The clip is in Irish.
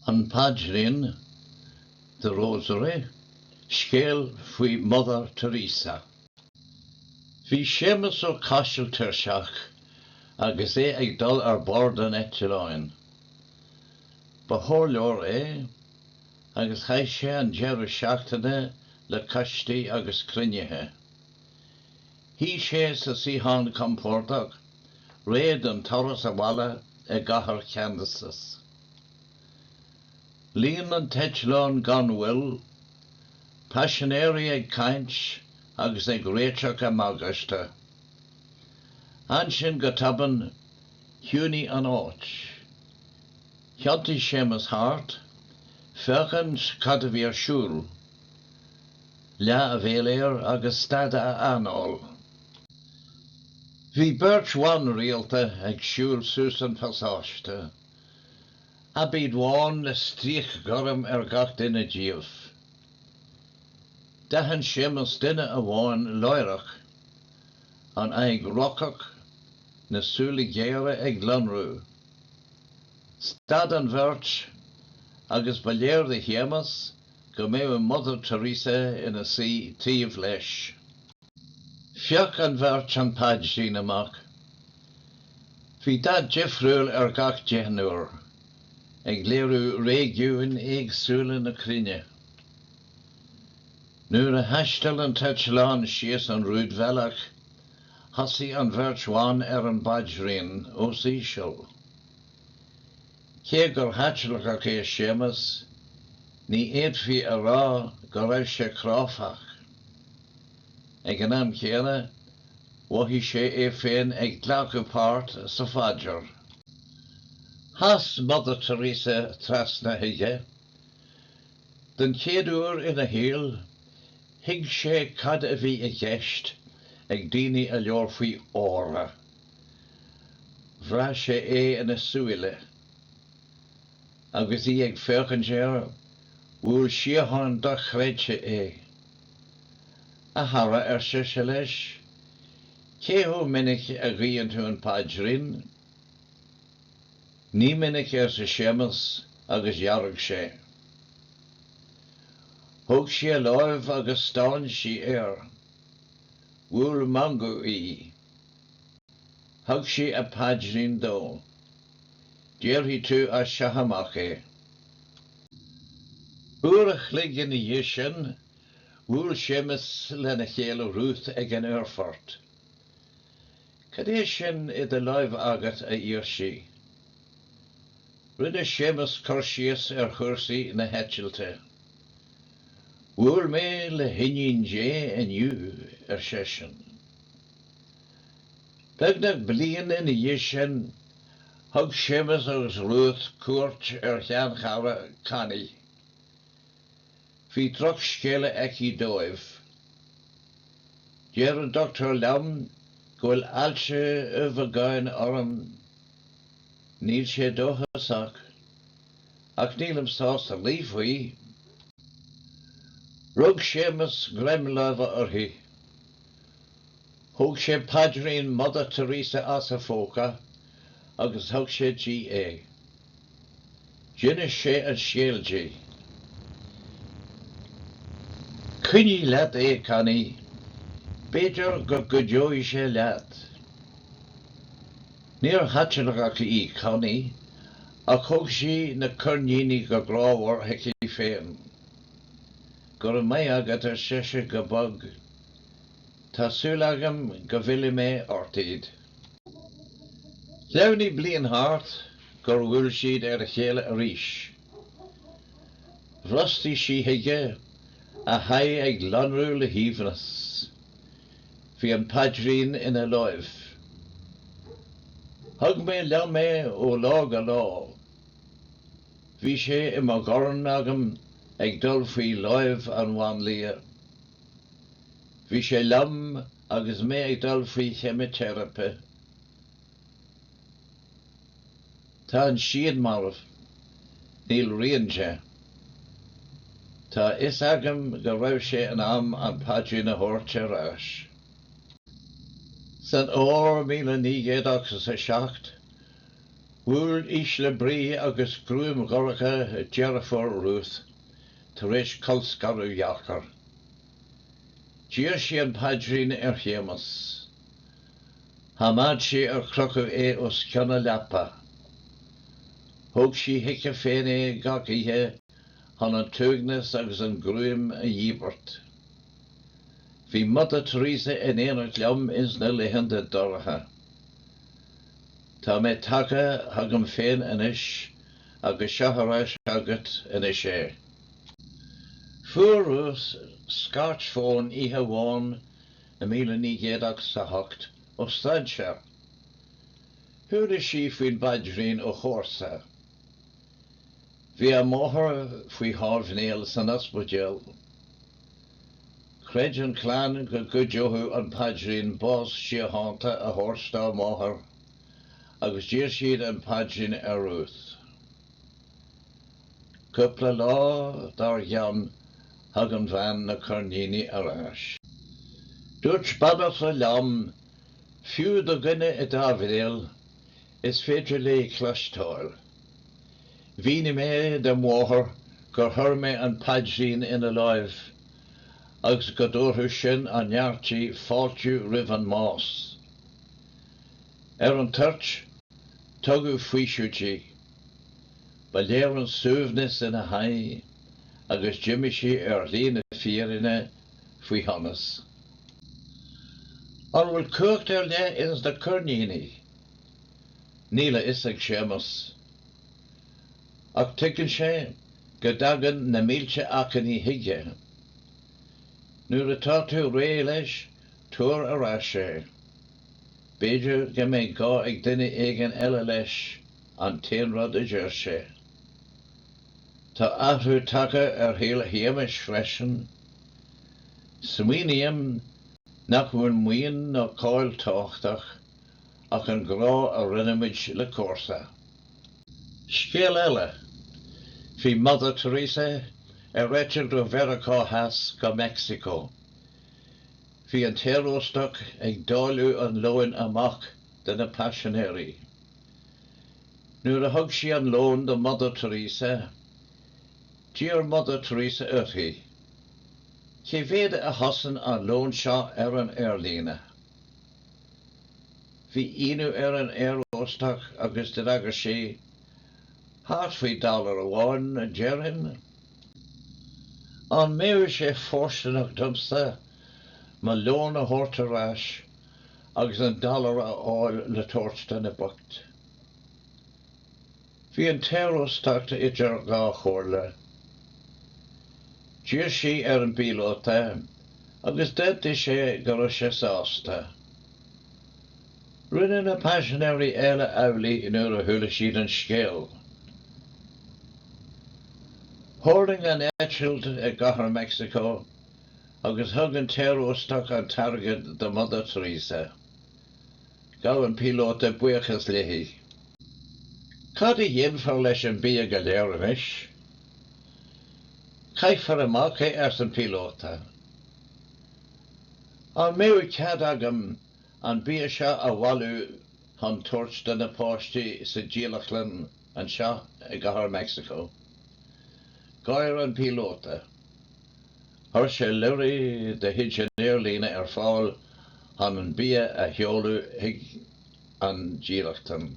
An Paidrín, The Rosary, Scéal faoi Mother Teresa. Bhí Séamas Ó Caisil tuirseach agus é ag dul ar bord an eitleáin. Ba chomhairleoir é agus chaith sé an deireadh seachtaine le coistí agus cruinnithe. Shuigh sé sa suíochán compordach réidh den turas abhaile go cathair Kansas. Líon an t-eitleán gan mhoill, paisinéirí ag caint agus ag réiteach a mbagáiste. Ansin go tobann chiúnaigh an áit. Thiontaigh Séamas thart, féachaint cad a bhí ar siúl. Leath a bhéal air agus stad a anáil. Bhí beirt bhan rialta ag siúl suas an pasáiste, aibíd bhán le stríoc ghorm ar gach duine díobh. D'aithin Séamas duine amháin láithreach, an aghaidh rocach, na súile géara ag lonrú. Stad an bheirt agus ba léir do Shéamas go mbeadh Mother Teresa ina suí taobh leis. Phioc an bheirt an paidrín amach. Bhí dath difriúil ar gach deichniúr, ag léiriú réigiúin éagsúla na cruinne. Nuair a thaistil an t-eitleán síos an rúidbhealach, thosaigh an bheirt bhan ar an bpaidrín os íseal. Cé gur Chaitliceach é Séamas, ní fhéadfaí a rá go raibh sé cráifeach. Ag an am céanna, mhothaigh sé é féin ag glacadh páirt sa phaidir. Chas Mother Teresa trasna chuige. Don chéad uair ina shaol, thuig sé cad a bhí i gceist ag daoine a labhair faoi 'aura' Bhraith sé é ina súile. Agus í ag féachaint air, bhuail síocháin dochreidte é. 'A chara, ar sise leis, 'cé chomh minic a ghuíonn tú an Paidrín? 'Ní minic, arsa Séamas agus dhearg sé. Thóg sí a láimh agus stán sí air. Bhuail meangadh í. Thug sí a paidrín dó. Déarfaidh tú as seo amach é. Uair a chloig ina dhiaidh sin, bhuail Séamus lena chéile Ruth ag an aerfort. Cad é sin i do láimh agat, a d'iarr sí. Rinne Séamus cur síos ar chúrsaí na heitilte. Bhuail mé le hiníon Dé inniu, ar seisean. Beagnach bliain ina dhiaidh sin, thug Séamus agus Ruth cuairt ar sheanchara Connie. Bhí drochscéala aici dóibh. Deir an dochtúir liom go bhfuil ailse ubhagáin orm. Níl sé dóchasach, ach nílim sásta luí faoi. Rug Séamus greim láimhe uirthi. Thóg sé paidrín Mother Teresa as a phóca agus thug sé di é. D'inis sé an scéal di. Coinnigh leat é, Connie. B'fhéidir go gcuideoidh sé leat. Níor Chaitliceach í Connie, ach thug sí na coirníní go grámhar chuici féin. Go raibh maith agat, ar sise go bog. Tá súil agam go bhfillfidh mé ort iad. Shleamhnaigh bliain thart gur bhuail siad ar a chéile arís. Bhrostaigh sí chuige, a haghaidh ag lonrú le haoibhneas. Bhí an paidrín ina láimh. Thug mé liom é ó lá go lá. Bhí sé i mo dhorn agam ag dul faoi láimh an mháinlia. Bhí sé liom agus mé ag dul faoi cheimiteiripe. Tá an siad marbh. Níl rian de. Tá a fhios agam go raibh sé in am an paidrín a thabhairt ar ais. San fhómhar míle naoi gcéad ochtó is a seacht, bhuail ísle brí agus gruaim dhorcha deirfiúr Ruth, Tar éis colscaradh dheacair, d'iarr sí an paidrín ar Shéamas. Choimeád sí ar crochadh é os cionn a leapa. Thóg sí chuici féin é gach oíche chun an t-uaigneas agus an ghruaim a dhíbirt. Bhí Mother Teresa in éineacht liom ins na laethanta dorcha. Tá mé tagtha chugam féin anois agus seo ar ais agat anois é. Fuair Ruth scairt fóin oíche amháin i míle naoi gcéad ochtó a hocht ó strainséir. Chuala sí faoin bpaidrín ó chomharsa. Bhí a máthair faoi thámhnéal san ospidéal. Chreid an chlann go gcuideoidh an paidrín bás síochánta a thabhairt dá máthair. agus d'iarr siad an paidrín ar Ruth. Cúpla lá dár gcionn thug an bhean na coirníní ar ais. Dúirt banaltra liom, fiú do dhuine i dtámhnéal, is féidir léi cloisteáil. Mhínigh mé don mháthair gur chuir mé an paidrín ina láimh agus go dtabharfadh sin an neart di fáiltiú roimh an mbás. Ar an toirt, tugadh faoiseamh di. Ba léir an suaimhneas ina haghaidh agus d'imigh sí ar shlí na fírinne faoi shonas. An bhfuil cumhacht ar leith ins na coirníní? Níl a fhios ag Séamas. Ach tuigeann sé go dtagann na mílte achainí chuige. Nuair atá tú réidh leis Tabhair ar ais é. B'fhéidir go mbeidh gá ag duine éigin eile leis, an t-aon rud a deir sé. Tá athrú tagtha ar shaol Shéamais freisin. Smaoiním nach bhfuil maoin ná cáil tábhachtach ach an grá a roinnimid le comharsa. Scéal eile, bhí Mother Teresa ar eitilt ó Mheiriceá Theas go Meicsiceo. Bhí an t-aeróstach ag dáileadh an lóin amach do na paisinéirí. Nuair a thug sí an lón do Mother Teresa, d'iarr Mother Teresa uirthi, 'Cé mhéad a chosain an lón seo ar an aerlíne? Bhí ionadh ar an aeróstach agus d'fhreagair sí, 'Thart faoi dollar amháin, déarfainn. An mbeadh sé fóirsteanach domsa mo lón a thabhairt ar ais agus an dollar a fháil le tabhairt do na boicht? Bhí an t-aeróstach idir dhá chomhairle. D'iarr sí ar an bpíolóta agus d'aontaigh sé go raibh sé sásta. Rinne na paisinéirí eile amhlaidh nuair a chuala siad an scéal. Thuirling an eitilt i gCathair Mheicsiceo agus thug an t-aeróstach an t-airgead do Mother Teresa. Ghabh an píolóta buíochas léi. Cad a dhéanfar leis an bia go léir anois? Caithfear amach é, arsa an píolóta. An mbeidh cead agam an bia seo a bhailiú chun tabhairt do na páistí sa dílleachtlann anseo i gCathair Mheicsiceo. Gháir an píolóta. Chuir sé lorraí de chuid an aerlíne ar fáil chun an bia a sheoladh chuig an dílleachtlann.